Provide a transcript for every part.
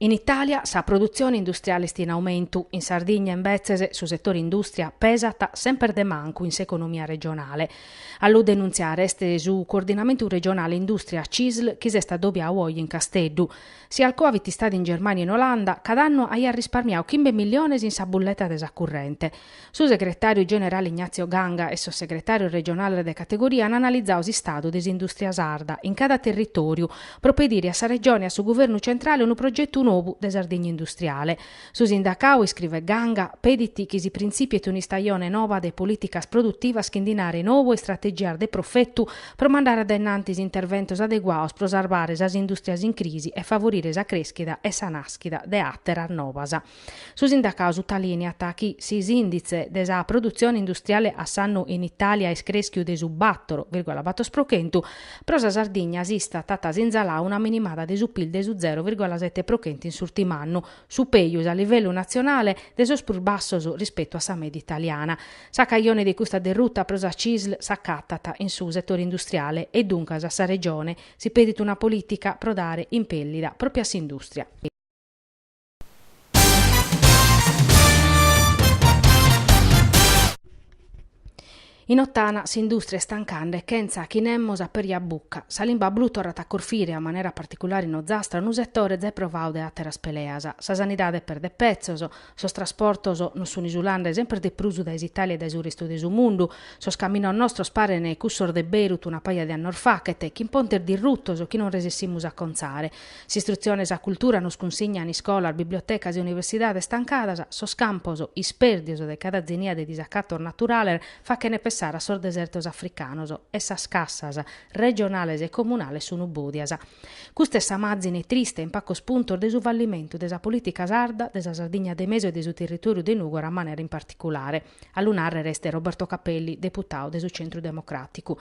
In Itàlia sa produtzione industriale est in aumentu, in Sardigna imbetzes su setore indùstria pesat semper de mancu in s'economia regionale. A lu denuntziare est su Coordinamentu Regionale Indùstria CISL chi s'est adobiadu oje in Casteddu. Si Alcoa fit istada in Germània o in Olanda, cada annu aiat risparmiadu chimbe milliones in sa bulleta de sa currente. Su segretàriu generale Ignazio Ganga e sos segretàrios regionales de categoria an analizadu s'istadu de s'indùstria sarda in cada territòriu pro pedire a sa Regione e a su Guvernu centrale unu progetu nou de Sardigna industriale. Su sindacadu, iscrivet Ganga, pedit chi si printzìpiet un'istajone nova de polìticas produtivas chi nde dinare nou e istrategias de profetu pro mandare dae in antis interventos adeguados pro sarvare sas indùstrias in crisi e favorire sa crèschida e sa nàschida de àteras novas. Su sindacau sutalìniat chi si s'ìnditze de sa produtzione industriale a s'annu in Itàlia est crèschiu de su bator virgola bator pro chentu, pro sa Sardigna s'Istat at sinzalau una minimada de su pil de su zero virgola sete pro chentu in s'ùrtim'annu, su pejus a livellu natzionale de sos prus bassos rispetu a sa mèdia italiana. Sa cajone de custa derruta pro sa Cisl s'acatat in su setore industriale e duncas a sa Regione si pedit una polìtica pro dare impèllida pròpiu a s'indùstria. In Ottana s'industria est tancande chentza chi nemos apèrjat bucca. Sa limba blu torrat a corfire, a manera particulare in Ozastra, unu setore zai provadu de àteras peleas. Sa sanidade perdet petzos, sos trasportos nos sun isulande semper de prus dae s'Itàlia e dae su restu de su mundu, sos caminos nostros parene cussos de Beirut una paja de annos faghet, chin pontes dirrutos chi non resessimus a contzare. S'istrutzione e sa cultura nos cunsignan iscolas, bibliotecas e universidades tancadas, sos campos ispèrdios de cada zenia de disacatos naturales fachene pensare a sos desertos africanos e sas cassas regionales e comunales sun bòdias. Custa est sa màzine triste in pagos puntos de su fallimentu de sa polìtica sarda, de sa Sardigna de mesu e de su territòriu de Nùgora a manera particulare, a lu nàrrere est Roberto Capelli, deputadu de su Centru Democràticu.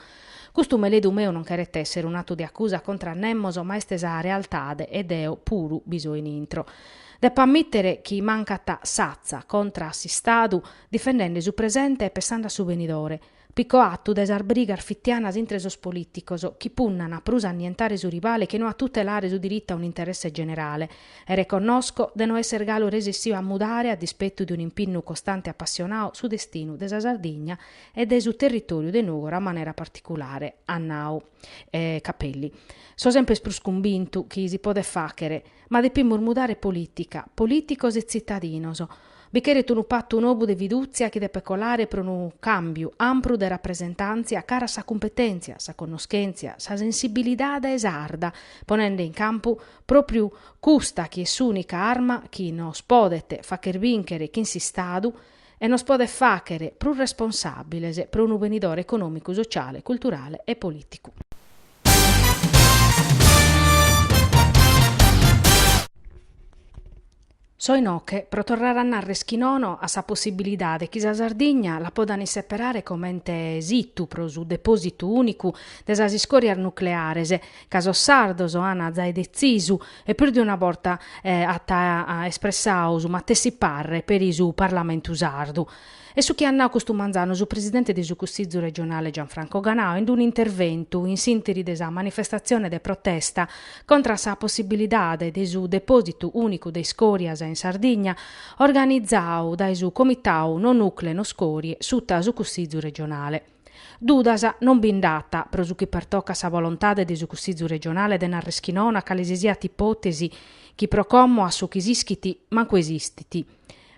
Custu meledu meu non cheret èssere un'atu de acusa contra a nemos ma est sa realtade e deo puru bi so in intro. Depo ammìtere chi mancat s'atza contra a s'Istadu difendende su presente e pessande a su benidore, picau a tu dae sas brigas fitianas intre sos polìticos chi punnana prus a annientare su rivale che no a tutelare su diritu a un'interesse generale e reconnosco de no esser galu resessìu a mudare a dispetu de un'impinnu costante e apassionau su destinu de sa Sardigna e de su territòriu de Nògora a manera particulare, at nau Capelli. So semper prus cumbintu chi si podet fàchere, ma depimus mudare polìtica, polìticos e tzitadinos. Bi cheret unu patu nobu de fidùtzia chi depet colare pro unu càmbiu ampru de rapresentàntzia cara a sa cumpetèntzia, sa connoschèntzia, sa sensibilidade sarda, ponende in campu pròpriu custa chi est s'ùnica arma chi nos podet fàchere bìnchere chin s'Istadu e nos podet fàchere prus responsàbiles pro unu benidore econòmicu, sotziale, culturale e polìticu. So inoche pro torrare a nàrrer chi nono a sa possibilidade chi sa Sardigna la potan isseperare comente situ pro su depòsitu ùnicu de sas iscòrias nucleares, ca sos sardos an zai detzisu e prus de una borta at espressau su matessi parre peri su Parlamentu sardu. Est su chi at nau custu manzanu su presidente de su Cussizu regionale Gianfranco Ganau in unu interventu in s'interi de sa manifestatzione de protesta contra a sa possibilidade de su depòsitu unicu de iscòrias in Sardigna organizau dae su Comitau No Nucle No Scorie suta su Cussizu regionale. Dudas non bi nd'at, pro su chi pertocat sa volontade de su Cussizu Regionale de nàrrer chi nono a cale si siat ipòtesi chi pro como a su chi s'ischit mancu esistit.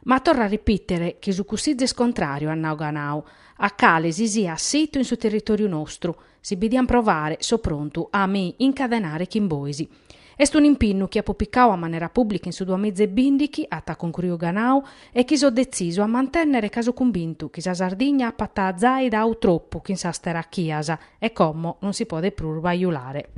Ma torro a ripìtere chi su Cussizu est contràriu at nau Ganau, a cale si siat situ in su territòriu nostru, si bi dian provare so prontu a mi incadenare chin bois. Est un'impinnu chi apo picau a manera pùblica in su duamiza e bìndighi, at cuncruiu Ganau, e chi so detzisu a mantènnere ca so cumbintu chi sa Sardigna apat zai dau tropu chin sas terachias e como non si podet prus bajulare.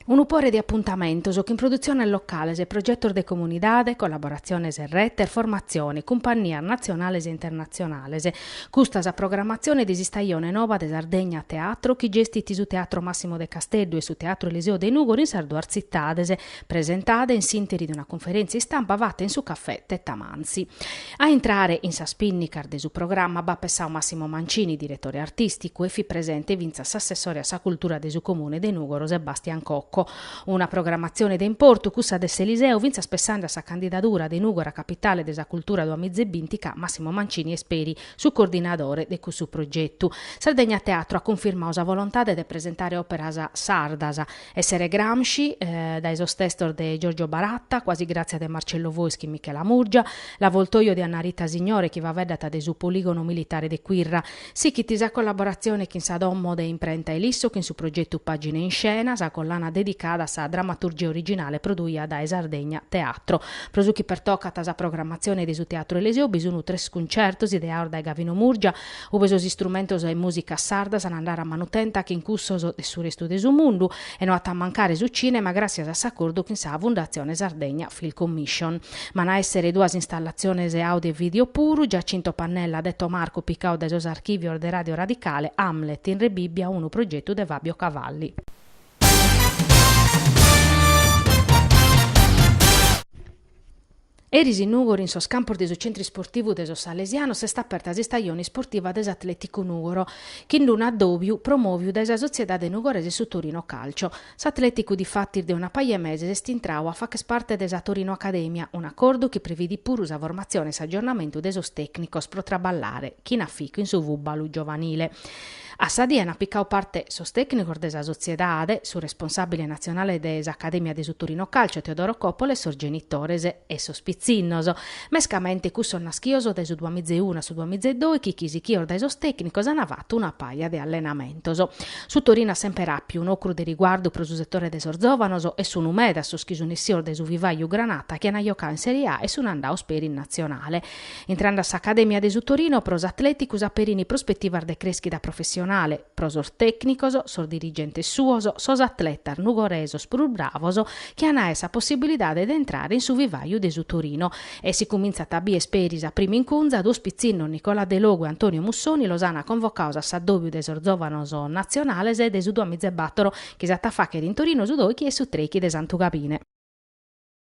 Unu pore de apuntamentos chin produtziones locales, progetos de comunidade, collaboratziones e retes, formatzione, cumpannias natzionales e internatzionales. Custa sa programatzione de s'istajone nova de Sardegna Teatro chi gestit su Teatro Massimo de Casteddu e su Teatro Eliseo de Nùgoro in sas duas tzitades, presentada in s'interi de una cunferèntzia istampa fata in su Cafè Tettamanzi. A intrare in sas pìnnicas de su programma b'at pessau Massimo Mancini, diretore artìsticu, e fit presente fintzas s'assessore a sa cultura de su Comune de Nùgoro Sebastian Cocco. Una programmatzione de importu cussa de s'Eliseo fintzas pessande a sa candidadura de Nùgoro a capitale de sa cultura duamiza e binti ca Massimo Mancini est peri su coordinadore de cussu progetu. Sardegna Teatro at cunfirmau sa volontade de presentare òperas sardas. Essere Gramsci, dae sos testos de Giorgio Baratta, Quasi Grazia de Marcello Fois chin Michela Murgia, L'Avvoltoio de Anna Rita Signore chi faveddat de su Poligono Militare de Quirra. Sichit sa collaboratzione chin sa Domo de Imprenta Ilisso chin su progetu Pagine in Scena, sa collana dedicada a sa dramaturgia originale produia dae Sardegna Teatro. Pro su chi pertocat sa programmatzione de su Teatru Eliseo bi sun tres cuncertos ideados dae Gavino Murgia, ube sos istrumentos e mùsicas sardas an a andare a manutenta chin cussos de su restu de su mundu e no at a mancare su cinema gràssias a s'acordu chin sa Fundatzione Sardegna Film Commission. B'an a èssere duas installatziones audio e video puru, Giacinto Pannella Detto Marco picau dae sos archìvios de Ràdio Radicale, Hamlet in Rebibbia unu progetu de Fabio Cavalli. Eris in Nugoro in sos campos de su Centru Isportivu de sos Salesianos est aperta s'istajone isportiva de s'Atleticu Nugoro, chin d-unu addòbiu promòviu dae sa sotziedade nugoresa e su Torino Calcio. S'Atleticu difatis de una paja 'e meses est intrau a fàcher parte de sa Torino Academia, un'acordu chi previdit puru sa formatzione e s'aggiornamentu de sos tècnicos pro traballare, chin aficu, in su fùbalu giovanile. A sa die ant picau parte sos tècnicos de sa sotziedade, su responsàbile natzionale de s'Acadèmia de su Torino Calcio Teodoro Coppola e sos genitores e sos pitzinnos. Mescamente cussos naschios dae su duas miza e unu a su duas miza e doichi chi sichios dae sos tècnicos ant fatu una paja de allenamentos. Su Torino at semper àpiu un'ocru de riguardu pro su setore de sos zòvanos e sunu meda sos chi sun essios dae su vivàiu granata chi ant jocadu in Serie A e sun andaos peri in natzionale. Intrende a s'Acadèmia de su Torino, pro s'Atleticu s'aperin prospetivas de crèschida professionale, pro sos tècnicos, sos dirigentes suos, sos atletas nugoresos prus bravos chi an aer sa possibilidade de intrare in su vivàiu de su Torino. E si cumintzant a bìer peri sa prima incunza, duos pitzinnos, Nicola Delogu e Antonio Mussoni, los ant convocaos a s'addòbiu de sos zòvanos natzionales de su duamiza e battoro chi s'at a fàcher in Torino su doichi e su treichi de Santu Gabine.